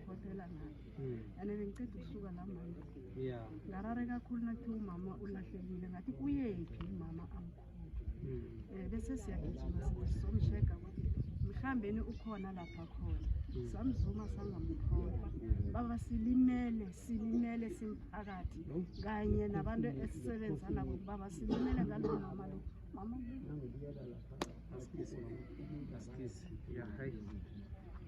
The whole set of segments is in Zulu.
Kodela ngathi. Hmm. And bengiceda ukusuka la manje. Yeah. Ngarare kakhulu nathi umama ulahlekile ngathi uyephi umama amkhulu. Hmm. Eh bese siyagijima sizomsheka ukuthi mhlambeni ukhona lapha khona. Hmm. Samzuma sangamthola. Baba silimele silimele simphakathi kanye nabantu esisebenza nabo baba silimele ngalona mama lo. Mama.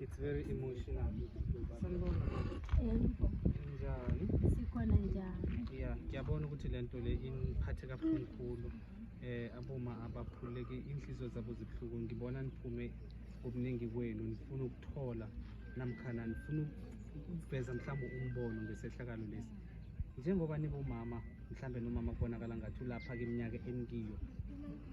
It's very emotional. Njani? Sikhona njani? Yeah, ngiyabona ukuthi lento le iniphathe kabuhlungu kakhulu. Eh aboma abaphuleke inhliziyo zabo zibuhlungu. Ngibona niphume obuningi kwenu nifuna ukuthola namkhana nifuna ukuveza mhlawumbe umbono ngesehlakalo lesi. Njengoba nibomama mhlawumbe nomama kubonakala ngathi ulapha ke iminyaka enikiyo.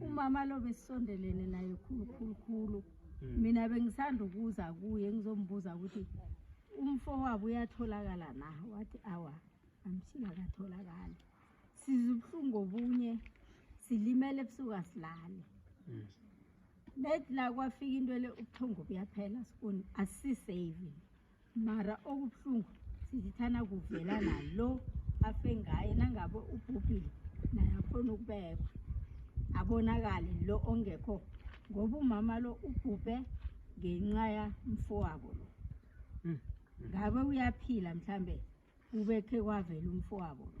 umama lo besisondelene naye khulu khulu khulu hmm. mina bengisanda ukuza kuye ngizombuza ukuthi umfo wabo uyatholakala na wathi awa amshini akatholakali siza ubuhlungu obunye silimele ebusuku asilale hmm. bethi la kwafika into le ubuthongo buyaphela sifuni asisave mara okubuhlungu sizithana kuvela nalo afe ngaye nangabe ubhubhile naye akhona ukubekwa abonakale lo ongekho ngoba umama lo ubhubhe ngenxa yamfowabo lo hmm. ngabe uyaphila mhlambe ubekhe kwavela umfowabo lo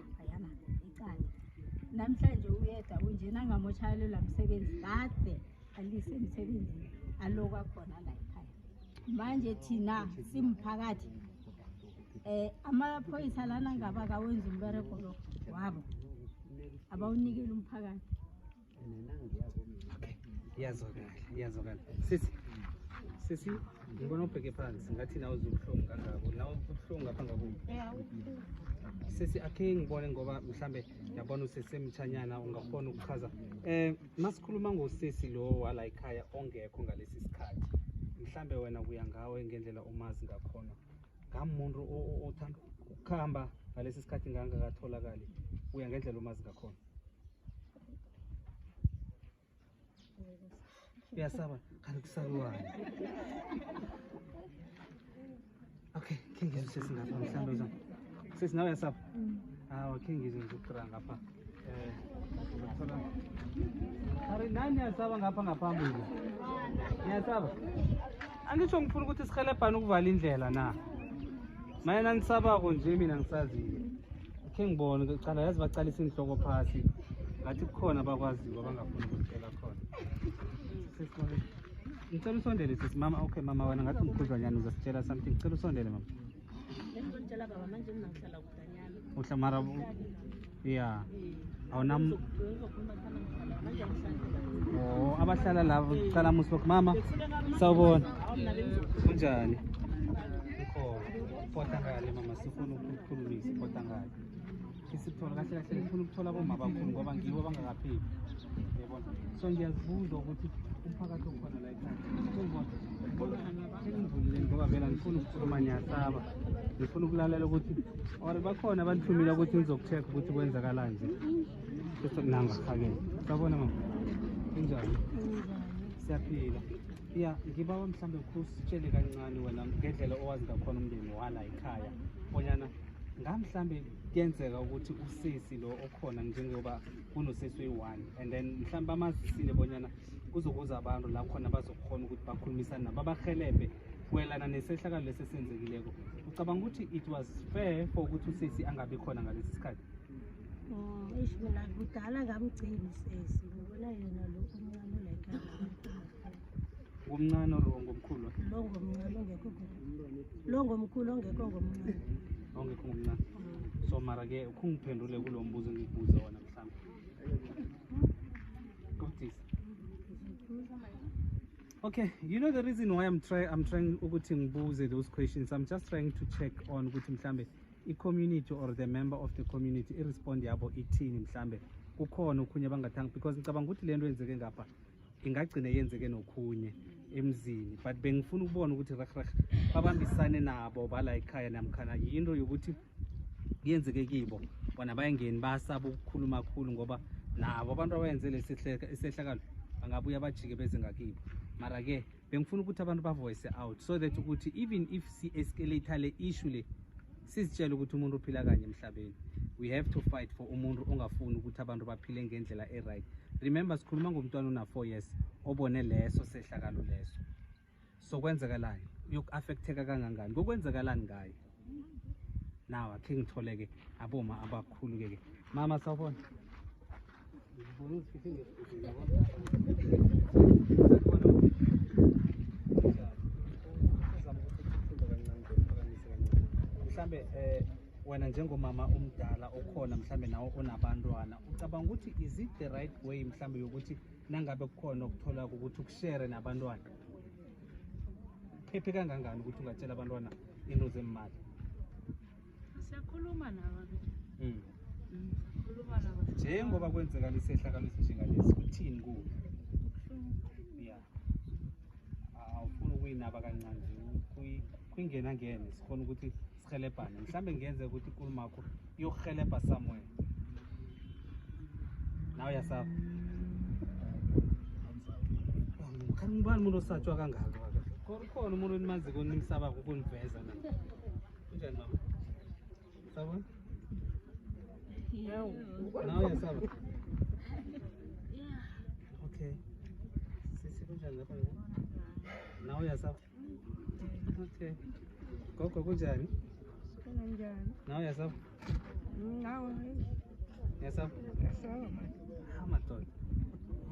ayama icala namhlanje uyeda unjena angamoshayelelwa msebenzi kade alise emsebenzini alokwa khona la ekhaya manje thina simphakathi um amaphoyisa lana ngaba kawenza umbereko lo wabo abawunikele umphakathi Okay. Iyazwakala, iyazwakala. Sisi. Sisi, ngibona ubheke phansi ngathi nawe uzobuhlungu kangako. Nawe ubuhlungu ngapha ngako. Sisi akhe ngibone ngoba mhlambe yabona usesemthanyana ungafona ukuchaza. Eh masikhuluma ngosisi lo wala ekhaya ongekho ngalesi sikhathi. Mhlambe wena kuya ngawe ngendlela umazi ngakhona. Ngamuntu othanda ukukhamba ngalesi sikhathi ngangakatholakali. Uya ngendlela umazi ngakhona. uyasaba kanti kusakuwani okay khe ngizwe sesi ngapha mhlawumbe uzam sesi nawe uyasaba hawa khe ngizwe ngizokutira ngapha eh, ari nani niyasaba ngapha ngaphambili niyasaba angisho ngifuna ukuthi sihelebhane ukuvala indlela na mayena nisabako nje mina ngisazile khe ngibone kucala yazi baqalisa inhloko phasi ngathi kukhona abakwaziyo abangafuni ukuzitshela khona ngicela usondele sisi mama okay mama wena ngathi umkhudlwanyana uzasitshela something ngicela usondele mama uhlamara ya awunam Oh, abahlala lava kuqala musi lokhu mama sawubona kunjani ikhona ngale mama sifuna ukukhulumisa ipota ngale isithola kahle kahle ngifuna ukuthola aboma bakhulu ngoba ngiwo abangakapheli yabona so ngiyazibuza ukuthi umphakathi okhona la ekhaya engivulile ngoba vela ngifuna ukukhuluma niyasaba ngifuna ukulalela ukuthi or bakhona abanithumile ukuthi ngizokucheck ukuthi kwenzakalanje bese nanga phakeni sabona mama kunjani siyaphila ya ngibawa mhlawumbe kusitshele kancane wena ngendlela owazi ngakhona umndeni wala ekhaya bonyana ngamhlawumbe kuyenzeka ukuthi usisi lo okhona njengoba kunosisi oyi-one and then mhlawumbe bamazisile bonyana kuzokuza abantu la khona bazokhona ukuthi bakhulumisane nabo abahelebhe kwelana nesehlakalo lesi esenzekileko ucabanga ukuthi it was fair for ukuthi usisi angabi khona ngalesi sikhathi Mm, eish mina kudala ngamgcini sesi ngibona yena lo omncane olayikala Ngomncane or ngomkhulu? lo ngomncane ongekho ngomncane. lo ngomkhulu ongekho ngomncane Ongekho ngomncane. So mara ke ukhungiphendule kulo mbuzo engikubuza wona mhlawumbe. Gotis. Okay, you know the reason why I'm trying I'm trying ukuthi ngibuze those questions. I'm just trying to check on ukuthi mhlambe i-community or the member of the community i-respond yabo ithini mhlambe kukhona okhunye bangathanga because ngicabanga ukuthi le nto yenzeke ngapha ingagcine yenzeke nokhunye emzini but bengifuna ukubona ukuthi rehreh babambisane nabo bala ekhaya namkhana yinto yokuthi yenzeke kibo bona bayengeni basaba ukukhuluma khulu ngoba nabo abantu abayenze lesi isehlakalo bangabuya bajike beze ngakibo mara-ke bengifuna ukuthi abantu bavoice out so that ukuthi even if si-escalator le issue le sizitshele ukuthi umuntu uphila kanye emhlabeni we have to fight for umuntu ongafuni ukuthi abantu baphile ngendlela e-right remember sikhuluma ngomntwana una-four years obone leso sehlakalo leso so kwenzekalani uyoku-affecteka kangangani kokwenzekalani ngayo nawa khe ngithole-ke aboma abakhulu-ke ke mama sawubona mhlambe eh wena njengomama omdala okhona mhlambe nawo onabantwana ucabanga ukuthi is it the right way mhlambe yokuthi nangabe kukhona okuthola ukuthi ukushere nabantwana phephe kangangani ukuthi ungatshela abantwana into zemali siyakhuluma nabo hmm. hmm, njengoba kwenzeka lesehlakalo esinjengalesi kuthini kuwe ya awufuni ukuyinaba kancane kuyingena ngene sikhona ukuthi Sihelebhane. Mhlambe ngenze ukuthi inkulumo yakho iyohelebha somewhere. Nawe uyasaba. Kanti ngubani umuntu osatshwa kangaka waka? Khona khona umuntu enimaziko nimsaba ukuniveza na. Kunjani mama? Saba? Nawe uyasaba. Okay. Sisi kunjani lapha? Nawe uyasaba. Okay. Gogo kunjani? Kunjani? Nawe yasapha? Nawe. Yasapha? Yasapha. Ah, madoda.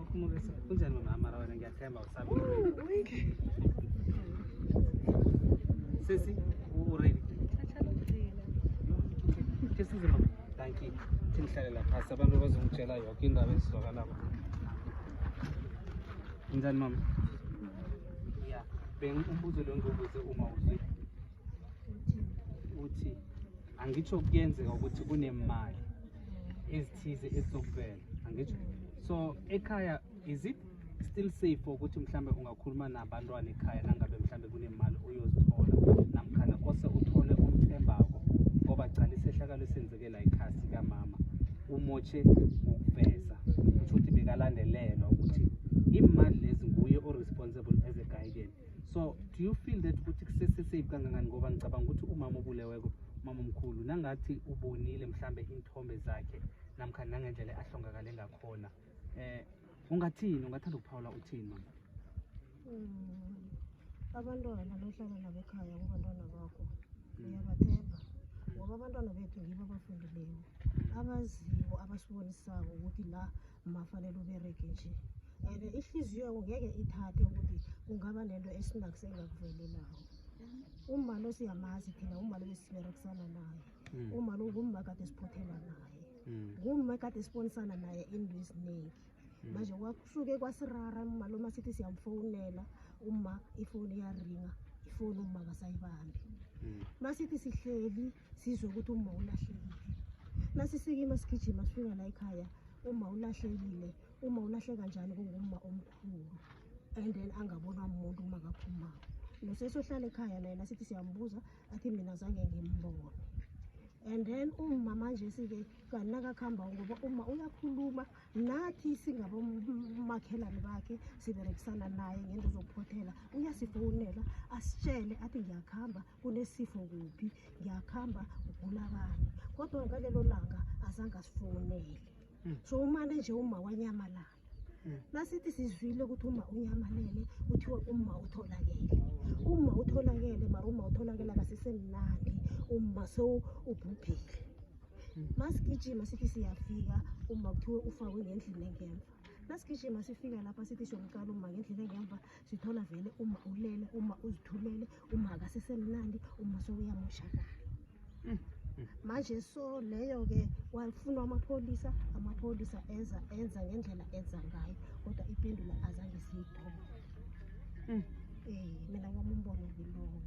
Ukumukisa. Kunjani mama mara wena ngiyathemba usabe. Sisi, uready? Kesize mama. Thank you. Thinhlalela phasi abantu bazongitshela yonke indaba ezizwakalako. Kunjani mama? ya bengibuzo lo ngibuze uma uzwe uthi angitsho kuyenzeka ukuthi kunemali ezithize ezizokuvela angitsho so ekhaya is it still safe ukuthi mhlambe ungakhuluma nabantwana ekhaya nangabe mhlambe kunemali oyozithola namkhana kose uthole omthembako ngoba gcala isehlakalo esenze Kela ikhasi kamama umotshe ngokuveza kusho ukuthi bekalandelelwa ukuthi imali lezi nguye o-responsible as a guidance so do you feel that ukuthi kusesesafe kangangani ngoba ngicabanga ukuthi umama obuleweko umama omkhulu nangathi ubonile mhlambe iy'nthombe zakhe namkha nangendlela ahlongakale ngakhona um ungathini ungathanda ukuphawula uthini mama abantwana nohlala nabo ekhaya kubantwana bakho uyabathemba ngoba abantwana bethu yibo abafundileyo abaziyo abasibonisako ukuthi la mafanele ubereke nje and ihliziyo yako ngeke ithathe ukuthi kungaba nento esinakho sengakuvelelayo umalo siyamazi thina umalo besiberekisana naye hmm. umalo ngumma kade siphothela naye hmm. ngumma kade sibonisana naye into eziningi Hmm. manje kwasuke kwasirara umaloma sithi siyamfowunela uma ifoni iyaringa ifoni uma kasayibambi hmm. masithi sihleli sizwe ukuthi uma ulahlekile nasisikima sigijima sifika la ekhaya uma ulahlekile uma ulahle kanjani kungumma omkhulu and then angabonwa muntu uma kaphumako nosesohlala ekhaya naye nasithi siyambuza athi mina zange ngimbone and then umma manje sike kanti nakakuhamba ngoba uma uyakhuluma nathi singabomakhelane bakhe siberekisana naye ngento zokuphothela uyasifowunela asitshele athi ngiyakuhamba kunesifo kuphi ngiyakuhamba ugula bani kodwa ngalelo langa azange asifowunele hmm. so umane nje uma wanyamalala hmm. nasithi sizwile ukuthi uma unyamalele kuthiwa uma utholakele uma utholakele mara uma utholakele akasisemnandi uma sewubhubhile masigijima sithi siyafika uma kuthiwe ufakwe ngendlini engemva nasigijima sifika lapha sithi siyomqala uma ngendlini engemva sithola vele uma ulele uma uzithulele uma akasesemnandi uma sowuyamoshakala mm, mm. manje so leyo-ke wafunwa amapholisa amapholisa enza enza ngendlela enza ngayo kodwa ipendula azange siyithole Mm. Eh, mina wami umbono ngilowo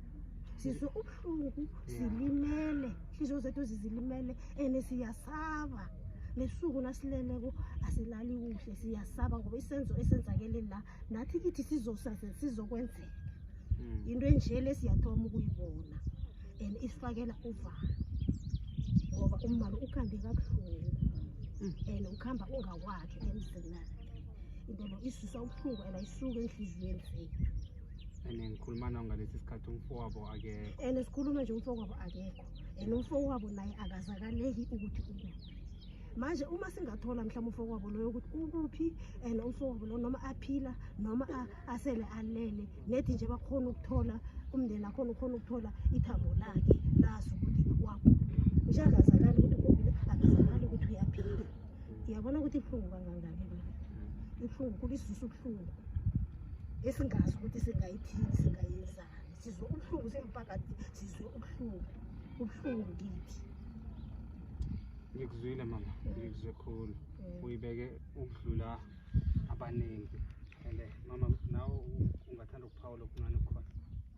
sizwe ubuhlungu silimele hliziyo zethu zizilimele and siyasaba nesuku nasileleko asilali kuhle siyasaba ngoba isenzo esenzakele la nathi kithi sizosaze sizokwenzeka Mm. into enje le siyathoma ukuyibona and isifakela uvalo ngoba umbalo ukhande kabuhlungu Mm. and ukhamba ungawakhe emzinakhe into le isisa ubuhlungu and ayisuke enhliziyweni zethu and ngikhuluma nawo ngalesi sikhathi umfowabo akekho and sikhuluma nje umfowabo akekho and umfowabo naye akazakaleki ukuthi ukuphi manje uma singathola mhlawumbe umfowabo loyo ukuthi ukuphi and umfowabo lo noma aphila noma asele alele nethi nje bakhona ukuthola umndeni akhona ukhona ukuthola ithambo lakhe lazi ukuthi wakuphi nje akazakali ukuthi akazakali ukuthi uyaphila Uyabona ukuthi ibuhlungu kangangani na? Ibuhlungu kuba isisu ubuhlungu esingazi ukuthi singayithini singayenzani. Sizwe ubuhlungu simphakathi sizwe ubuhlungu. Ubuhlungu kithi. Ngikuzwile mama, ngikuzwe khulu. Mm. Uyibeke ukudlula abaningi. And eh, mama nawe ungathanda ukuphawula okuncane okukhona.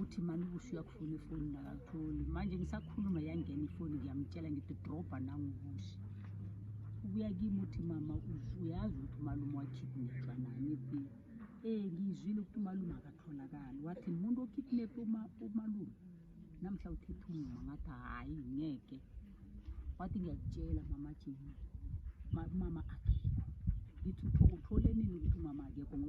uthi mani ubusi uyakufuna ifoni nakakutholi manje ngisakhuluma yangena ifoni ngiyamtshela ngithi drobha nangubusi ubuya kimi uthi mama uyazi ukuthi umalume wakidnepha nani bi um eh, ngiyizwile ukuthi umalume akatholakali wathi muntu okidnephe umalume namhla uthetha umma ngathi hhayi ngeke wathi ngiyakutshela mama jeni mama akekho ngithi utholenini ukuthi umama akekho